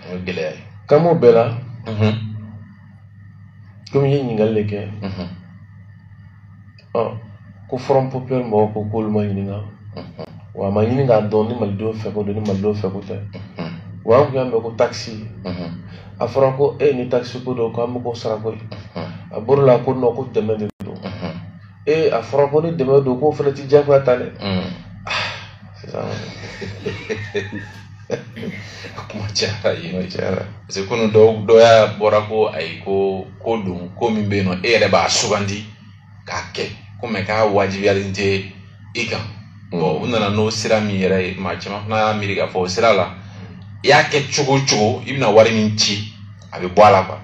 o ye gɛlɛya ye kan b'o bɛɛ la komi i ye ɲininkali de kɛ ko front populaire mɔgɔw ko k'olu ma ɲininka wa a ma ɲini k'a dɔn ni malidenw fɛko don ni malidenw fɛko tɛ wa an tun y'a mɛn ko takisi a fɔra ko ni takisi ko don k'an bɛ k'o sara ko ye a bɔr'o la ko nɔ ko dɛmɛ de don ee a fɔra ko ni dɛmɛ don k'o fana ti jagoya ta dɛ mm. ah, sisan kuma cayara yen kuma cayara parce que kunu dɔ y'a bɔra ko ayi ko don ko min bɛ yen nɔ e yɛrɛ b'a sugandi k'a kɛ ko mɛ k'a wajibiyalen tɛ i kan mm. bɔn u nana n'o sira min yɛrɛ ye maa caman fana y'a miiri k'a fɔ o sira la i y'a kɛ cogo o cogo i bɛna wari min ci a bɛ bɔ a la kuwa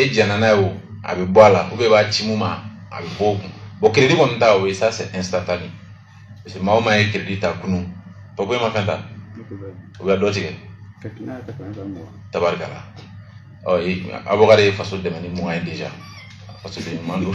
e jɛnna n'a ye o a bɛ bɔ a la ubiyɛn i b'a ci min ma a bɛ bɔ o kun bɔn keredi kɔni ta o ye sa sɛ ɛnsitantani parce que maa o maa ye keredi ta kunun fo k'i ma fɛn ta u bɛ dɔ tigɛ tabarikala ɔ abubakari ye faso dɛmɛ ni mugan ye deja fasoden ɲuman don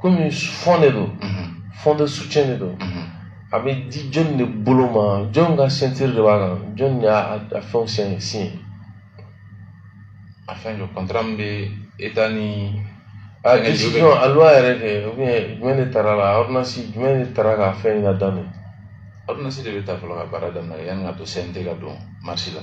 komi fɔn de don fɔn de sucɛn de don a bɛ di jɔnni de bolo ma jɔn ka siɲatiri de b'a kan jɔnni y'a a fɛnw siɲɛ siɲɛ a fɛn don kɔntara min bɛ eta ni a decision a loi yɛrɛ kɛ ubiyɛn jumɛn de tara la ordonnance jumɛn de tara ka fɛn in daminɛ ordonnance de bɛ ta fɔlɔ ka baara daminɛ yanni ka to cnt ka don marisi la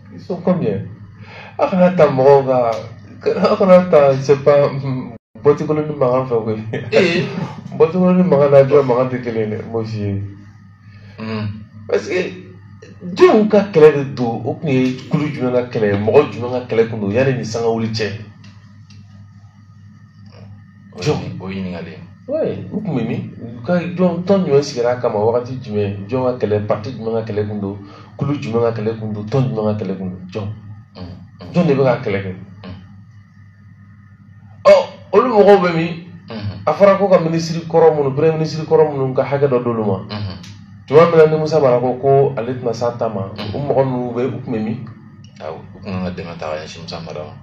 Ils sont combien Aw kana ta mɔgɔw kan aw kana ta c'est pas bɔti kolonnin mankan fɛ koyi. Ee bɔti kolonnin mankan n'a jɔ mankan tɛ kelen ye dɛ monsieur. Parce que jɔn ka kɛlɛ de don o tun ye kulu jumɛn ka kɛlɛ ye mɔgɔ jumɛn ka kɛlɛ tun don yanni nin sanga wuli cɛ. jɔn o ɲininkali u tun bɛ min ka jɔn tɔn jumɛn sigira a kama wagati jumɛn jɔn ka kɛlɛ pati jumɛn ka kɛlɛ kun don kulu jumɛn ka kɛlɛ kun don tɔn jumɛn ka kɛlɛ kun don jɔn jɔn de bɛ ka kɛlɛ kɛ ɔ olu mɔgɔw bɛ min a fɔra ko ka minisiri kɔrɔ minnu premier minisiri kɔrɔ minnu ka hakɛ dɔ d'olu ma tuma min na ni musa mara ko ko ale tɛna s'a ta ma o mɔgɔ ninnu bɛɛ u tun bɛ min u tun ka dɛmɛ ta ka ɲɛsin musa mara ma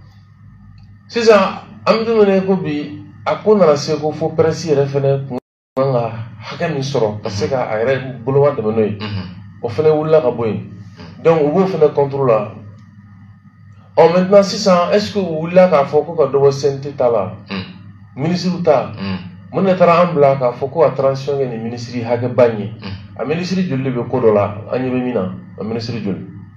sisan an bɛ don min na ko bi a ko nana se ko fo pɛrɛsi yɛrɛ fɛnɛ kun kan ka hakɛ min sɔrɔ ka se ka a yɛrɛ boloma dɛmɛ n'o ye mhm. o fɛnɛ wulila ka bɔ yen donc u b'o fɛnɛ kɔntoro la ɔ maintenant sisan est ce que u wulila k'a fɔ ko ka dɔ bɔ cnt ta la mhm. minisiriw ta mhm. mun de taara an bila k'a fɔ ko ka transition kɛ ni minisiri hakɛba in ye a minisiri joli de bɛ ko dɔ la an ɲɛ bɛ min na a minisiri joli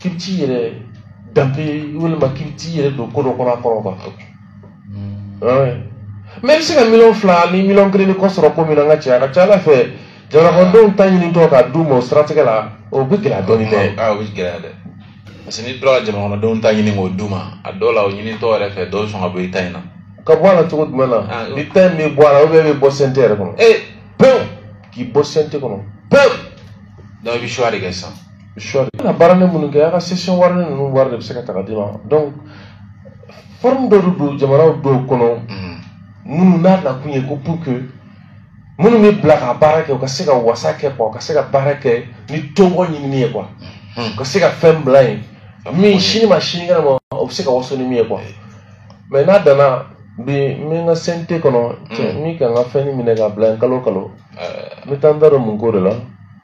k'i bɛ t'i yɛrɛ danpe walima k'i bɛ t'i yɛrɛ don ko dɔ kɔnɔ a kɔrɔ quoi mais i bɛ se ka miliyɔn fila ni miliyɔn kelen ni kɔ sɔrɔ ko min na n ka cɛ a ka ca ala fɛ jamanakɔnɔdenw ta ɲinitɔ k'a d'u ma o siratigɛ la o bɛ gɛlɛya dɔɔni dɛ a o bɛ gɛlɛya dɛ parce que n'i tora ka jamanakɔnɔdenw ta ɲini k'o d'u ma a dɔw la o ɲinitɔ yɛrɛ fɛ dɔw sɔn ka bɔ i ta in na ka bɔ a la cogo jumɛn na ah, ni ta in bɛ bɔ a la ou bien i bɛ bɔ CNT yɛrɛ kɔnɔ ee pewu k'i bɔ CNT kɔnɔ pewu donc i bɛ choix de kɛ sisan soit i ka baaralen minnu kɛ a ka session wari ninnu wari de bɛ se ka ta ka d'i ma donc forme dɔ de don jamanaw dɔw kɔnɔ minnu n'a nakun ye ko pour que minnu bɛ bila ka baara kɛ u ka se ka wasa kɛ quoi u ka se ka baara kɛ ni tɔgɔ ɲinini ye quoi u ka se ka fɛn bila yen min sini ma sinikɛnɛ ma o bɛ se ka waso ni min ye quoi mais n'a danna bi n bɛ n ka CNT kɔnɔ cɛ min ka n ka fɛn minɛ ka bila yen kalo o kalo n bɛ taa n da don mun ko de la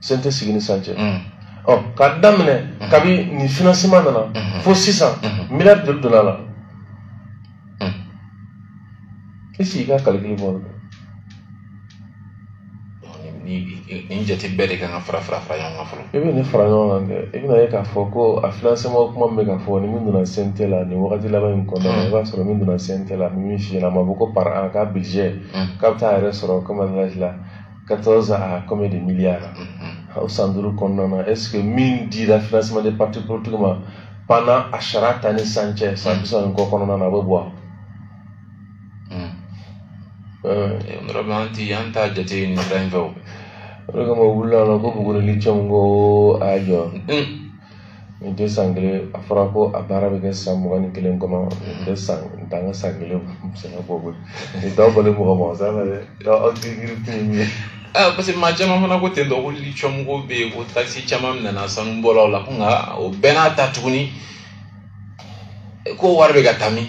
CNT sigi ni san cɛ ɔ k'a daminɛ kabi nin financement nana fo sisan miliyari joli donna a la i sigi i ka calcul bɔ nin jate bɛɛ de kan ka fara fara fara ɲɔgɔn kan fɔlɔ i bɛ nin fara ɲɔgɔn kan dɛ i bɛna ye k'a fɔ ko a financement kuma min bɛ ka fɔ ni min donna CNT la nin wagati laban in kɔnɔna na i b'a sɔrɔ min donna CNT la min fiyɛla a ma bɔ ko par an k'a budget k'a bɛ taa a yɛrɛ sɔrɔ comme an la 14 à combien de milliards mm-hmm. o san duuru kɔnɔna est-ce que min dira financement de parti politique ma pendant a sariya ta ni san cɛ san bi saba ni kɔ kɔnɔna na a bɛ bɔ yɔrɔ bɛ an ti an t'a jate nin sira in fɛ o o de kama u wulila la ko Buguni lithium ko a jɔ Nin tɛ san kelen a fɔra ko a baara bɛ kɛ san mugan ni kelen kɔnɔ nin tɛ san nin t'an ka san kelen sɛnɛ bɔ koyi nin t'aw bali mɔgɔ ma sa la dɛ aw tɛ yiri tɛ nin ye. Ah, parce que maa caman fana ko ten dɔw ko lithium ko bɛ yen ko takisi caman nana sanubɔlaw la ko nka o bɛɛ n'a ta tuguni ko wari bɛ ka taa min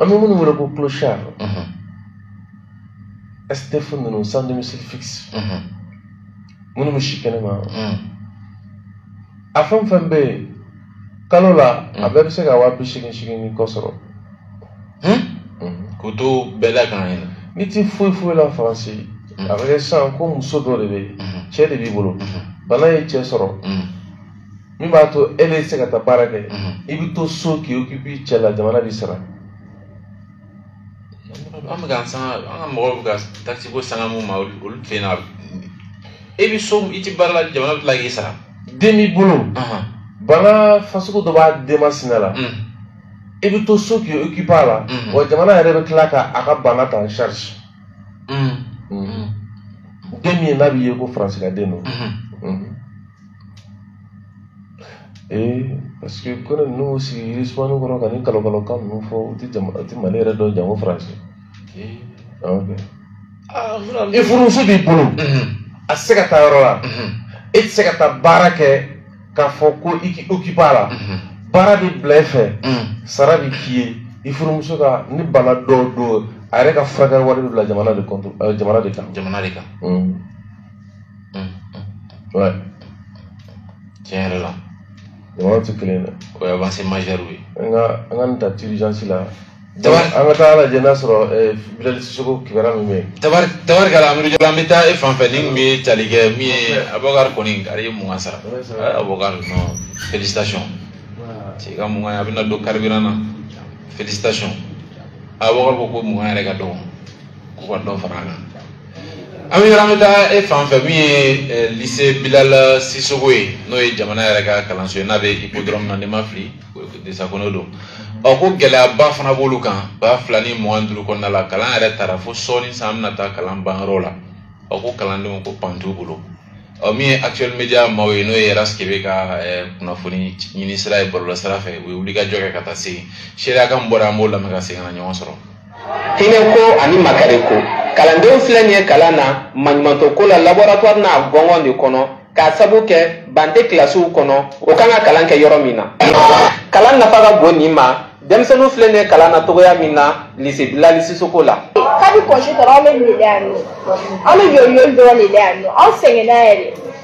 an bɛ minnu wele ko clochard SDF ninnu sans domicile fixe minnu bɛ si kɛnɛma a fɛn o fɛn bɛ yen kalo la a bɛɛ bɛ se ka waa bi seegin seegin ni kɔ sɔrɔ k'o to bɛɛ la kan yɛrɛ n'i ti foyi foyi la faransi a bɛ kɛ sisan ko muso dɔ de bɛ yen cɛ de b'i bolo bana ye cɛ sɔrɔ min b'a to e tɛ se ka taa baara kɛ i bɛ to so k'i occuper cɛ la jamana b'i sara an bɛ ka sanga an ka mɔgɔw bɛ ka takisi ko sanga mun ma olu fɛ yen na e bɛ so i tɛ baara la jamana bɛ tila k'i sara den b'i bolo bana fasugu dɔ b'a denmisɛnnin la i bɛ to so k'i occuper a la wa jamana yɛrɛ bɛ tila ka a ka bana ta en charge den min ye n'a b'i ye ko faransi ka den don ee parce que ko ninnu sigi yirisumani kɔrɔ ka ni kalokalokan ninnu fɔ u tɛ jama u tɛ mali yɛrɛ dɔn janko faransi i furumuso b'i bolo a tɛ se ka taa yɔrɔ la e tɛ se ka taa baara kɛ k'a fɔ ko i k'i okipe a la baara bɛ bila e fɛ sara bɛ k'i ye i furumuso ka ni bana dɔw don a yɛrɛ ka furakɛli wari bɛ bila jamana de kɔnto jamana de kan jamana de kan Mm, mm, mm. Ouais. Tiɲɛ yɛrɛ la. Jamanaw tɛ kelen ye dɛ. O ye avancée majeure ye. An ka an ka nin ta urgence la. Tabar an ka taa lajɛ n'a sɔrɔ eh, Bilali Sisoko kibaruya min bɛ yen. Tabar tabarikala Amidu Jalo an bɛ taa e fan fɛ ni tun bɛ tali kɛ min ye Abubakari kɔni a ye mugan sara. Eh, Abubakari non félicitations. Cɛ ka mugan a bɛna don carburant na félicitations. Abubakari ko ko mugan yɛrɛ ka dɔgɔ k'u ka dɔ fara a kan. an bɛ an bɛ taa e fan fɛ min ye lise bilala sisoko ye n'o ye jamana yɛrɛ ka kalanso ye n'a bɛ ipodɔrɔmu na ni n ma fili desakɔnɔ don ɔ ko gɛlɛyaba fana b'olu kan ba fila ni mugan duuru kɔnɔna la kalan yɛrɛ taara fo sɔɔni san an bɛna taa kalan banyɔrɔ la ɔ ko kalandenw ko ban t'u bolo ɔ min ye actuel media maaw ye n'o ye rasi kebe ka kunnafoni ɲini sira ye bɔlɔlɔ sira fɛ u ye wulikajɔ kɛ ka taa se yen seereya kan bɔra an b'o lamɛn ka segin ka na ɲɔgɔn sɔrɔ hinɛko ani makariko kalandenw filɛ nin ye kalan na maɲumantɔ ko la laboratwari n'a gɔngɔn de kɔnɔ k'a sabu kɛ ban tɛ kilasiw kɔnɔ u kan ka kalan kɛ yɔrɔ min na kalan nafa ka bon nin ma denmisɛnninw filɛ nin ye kalan na cogoya min na lise bilali sisoko la kabi kɔnze tara an bɛ nin de la yan nɔ an bɛ yoli yoli dɔrɔn de la yan nɔ an sɛgɛnna yɛrɛ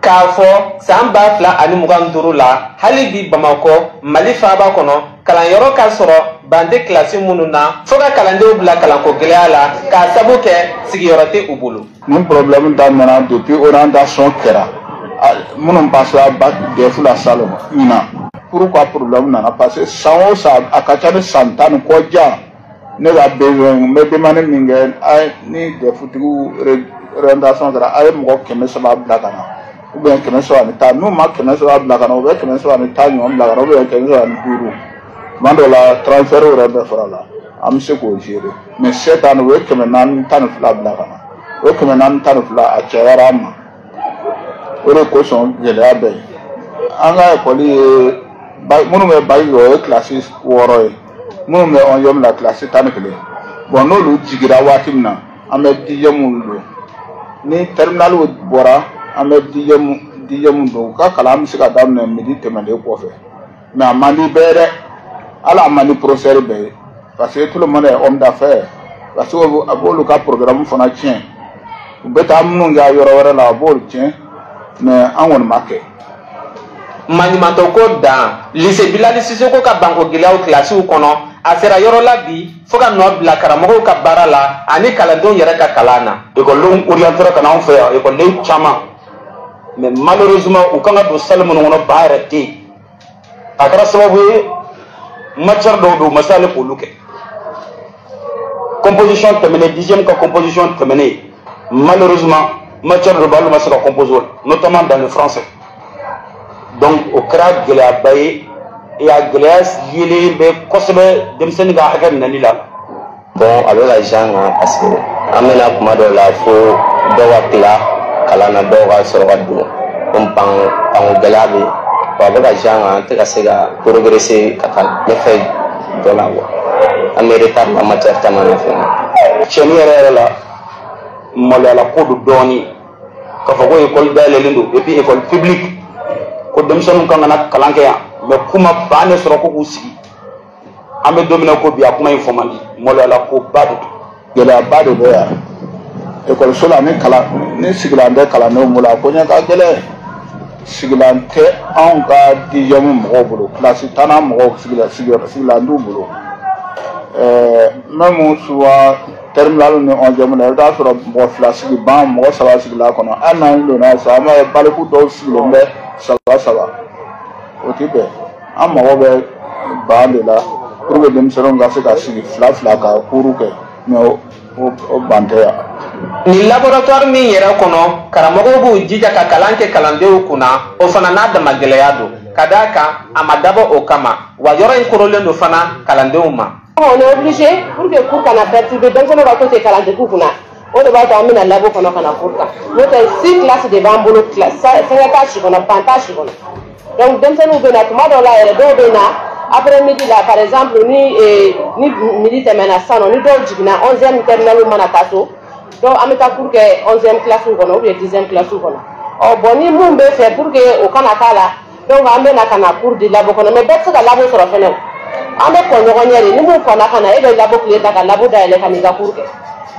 k'a fɔ san ba fila ani mugan duuru la hali bi bamakɔ mali faaba kɔnɔ kalanyɔrɔ ka sɔrɔ ban tɛ kilasi minnu na fo ka kalandenw bila kalanko gɛlɛya la k'a sabu kɛ sigiyɔrɔ tɛ u bolo nin problème daminɛna depuis orientation kɛra minnu pasera bac DEF la salon ɲinan pourquoi problème nana parce que san o san a ka ca ni san tan ni kɔ jan ne ka besoin n bɛ demande min kɛ a ni dɛfutigiw orientation kɛra a ye mɔgɔ kɛmɛ saba bila ka na ou bien kɛmɛ saba ni tan n'u ma kɛmɛ saba bila ka na u bɛ kɛmɛ saba ni tan ɲɔgɔn bila ka na ou bien kɛmɛ saba ni duuru tuma dɔw la transfert yɛrɛ bɛɛ fara la an bɛ se k'o gérer mais cette année u ye kɛmɛ naani tan ni fila bila ka na o ye kɛmɛ naani tan ni fila a cayara an ma o de kosɔn gɛlɛya bɛ yen an ka ekɔli ye minnu bɛ baki kɛ o ye kilasi wɔɔrɔ ye minnu bɛ ɔnziyɛmu la kilasi tan ni kelen bon n'olu jigira waati min na an bɛ dijɛmu don ni tɛriminaliw bɔra an bɛ dijɛmu dijɛmu don u ka kalan bɛ se ka daminɛ midi tɛmɛnen kɔfɛ mɛ a man di bɛɛ dɛ hali a man di porofɛsɛri bɛɛ ye parce que tout le monde est homme d'affaires parce que a b'olu ka porogaramu fana tiɲɛ u bɛ taa minnu kɛ yɔrɔ wɛrɛ la a b'olu tiɲɛ mɛ an kɔni ma kɛ maɲumantɔ ko don lise bilali sisoko ka banko gɛlɛyaw kilasiw kɔnɔ a sera yɔrɔ la bi fo ka nɔ bila karamɔgɔw ka baara la ani kalandenw yɛrɛ ka kalan na ekɔlidenw oriyantera ka na anw fɛ yan ekɔliden caman mais malheureusement u kan ka don salle minnu kɔnɔ ban yɛrɛ tɛ yen a kɛra sababu ye matière dɔw don u ma se ale k'olu kɛ composition tɛmɛnen dixième ka composition tɛmɛnen malheureusement matière dɔ b'a la u ma se ka composer o la notamment dans le français donc o kɛra gɛlɛyaba ye a gɛlɛya yelen bɛ kosɛbɛ denmisɛnnin ka hakɛ minɛli la Bon a bɛ ka jan kan parce que an bɛ na tuma dɔw la fo dɔw ka tila kalan na dɔw ka sɔrɔ ka don komi banko banko gɛlɛya bɛ yen bon a bɛ ka jan kan an tɛ ka se ka progresser ka taa ɲɛfɛ dɔ la quoi an bɛ retard la matière caman na fɛnɛ cɛnni yɛrɛ yɛrɛ la maloyala ko don dɔɔnin k'a fɔ ko ekɔli dayɛlɛlen don et puis ekɔli publique ko denmisɛnninw kan ka na kalan kɛ yan mais k'u ma bannin sɔrɔ ko k'u sigi an bɛ don min na ko bi a kuma in fɔ man di maloyala ko ba de don gɛlɛyaba de bɛ yan ekɔliso la ni kalan ni sigilan tɛ kalandenw bolo a ko ɲɛ ka gɛlɛn sigilan tɛ anw ka dixième mɔgɔw bolo kilasi tannan mɔgɔw sigilan sigiyɔrɔ sigilan t'u bolo ɛɛ même souvent terminale ni onzième la i bɛ t'a sɔrɔ mɔgɔ fila sigi ban mɔgɔ saba sigil'a kɔnɔ hali n'an donna sisan an b'a ye baliku dɔw sigilen bɛ saba saba o ti bɛn an mago bɛ ban de la pour que denmisɛnninw ka se ka sigi fila fila ka cours kɛ mais o ban tɛ yan nin laboratoire min yɛrɛ kɔnɔ karamɔgɔw b'u jija ka kalan kɛ kalandenw kunna o fana n'a dama gɛlɛya don ka d'a kan a ma dabɔ o kama wa yɔrɔ in korolen don fana kalandenw ma on est obligé pour que cours kana perturber denmisɛnninw ka to ten kalandegew kunna o de b'a to an bɛ na labo kɔnɔ ka na cours kɛ n'o tɛ six classes de b'an bolo fɛngɛ t'a si kɔnɔ ban t'a si kɔnɔ donc denmisɛnninw bɛ na tuma dɔw la yɛrɛ dɔw bɛ na après midi la par exemple ni eh, ni midi tɛmɛna sisan nɔ ni dɔw jiginna onzième terminale mana taa so donc an bɛ taa cours kɛ onzième classe kɔnɔ ou bien dixième classe kɔnɔ ɔ bon ni mun bɛ fɛ pour que o kana k'a la donc an bɛ na ka na cours di labo kɔnɔ mais bɛɛ tɛ se ka labo sɔrɔ fɛnɛ o an bɛ kɔn ɲɔgɔn ɲɛ de ni min kɔnna ka na e bɛ labo kile ta ka labo dayɛlɛ ka n'i ka cours kɛ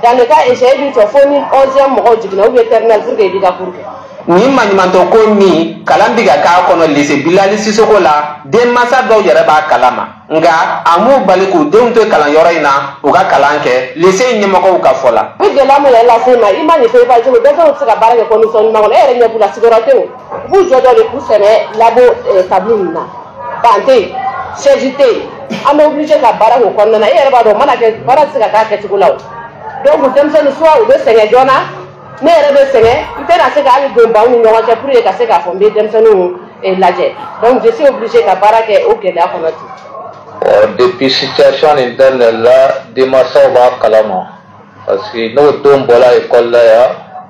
dans le cas échéant e b'i jɔ fo ni onzième mɔgɔw jiginna ou bien terminale pour que i b'i ka cours kɛ nin maɲumantɔ ko min kalan bɛ ka k'a kɔnɔ lise bilali sisoko la denmansa dɔw yɛrɛ b'a kalama nka a m'u bali k'u denw to kalanyɔrɔ in na u ka kalan kɛ lise in ɲɛmɔgɔw ka fɔ la. u bɛ gɛlɛya min yɛrɛ lase i ma image nin fɛ i b'a ye cogo denmisɛnw tɛ se ka baara kɛ condition ɲuman kɔnɔ e yɛrɛ ɲɛ b'u la sigiyɔrɔ tɛ yen u b'u jɔ dɔ de k'u sɛmɛ labo eh, tabulu ninnu na ban tɛ yen sɛji tɛ yen an bɛ obligé ka baara k'o kɔnɔna na e yɛrɛ b'a dɔn o mana kɛ baara tɛ se ka k'a kɛcogo la o donc denmisɛnninw soit u bɛ sɛgɛn joona ne yɛrɛ bɛ sɛgɛn n tɛna se ka hali don banw ni ɲɔgɔn cɛ pour que ka se k'a fɔ n bɛ denmisɛnninw eh, lajɛ donc je suis obligé ka baara kɛ o gɛlɛya kɔnɔ ten. ɔ depuis situation nin daminɛ la denmasaw b'a kalama parce que n'o den bɔra ekɔli la yan.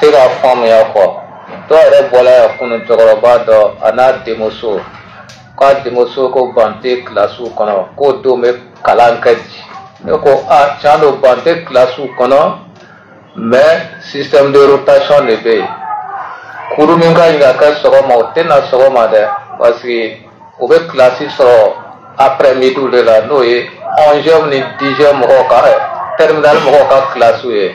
tɛ k'a faamuya quoi dɔw yɛrɛ bɔla yan kunu cɛkɔrɔba dɔ a n'a denmuso k'a denmuso ko ban tɛ kilasiw kɔnɔ k'o dun bɛ kalan kɛ di ne ko a tiɲɛ don ban tɛ kilasiw kɔnɔ mais système de rotation de bɛ yen cours min ka ɲi ka kɛ sɔgɔma o tɛ na sɔgɔma dɛ parce que o bɛ kilasi sɔrɔ après midi de la n'o ye onzième ni dixième mɔgɔw ka terminale mɔgɔw ka kilasiw ye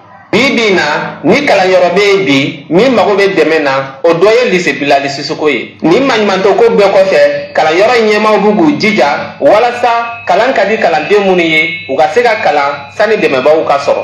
bi bi na ni kalanyɔrɔ bɛ yen bi min mago bɛ dɛmɛ na o dɔ ye lycée Bilali Sisoko ye nin maɲumantɔko bɛɛ kɔfɛ kalanyɔrɔ in ɲɛmaaw bɛ k'u jija walasa kalan ka di kalanden minnu ye u ka se ka kalan sani dɛmɛbaaw ka sɔrɔ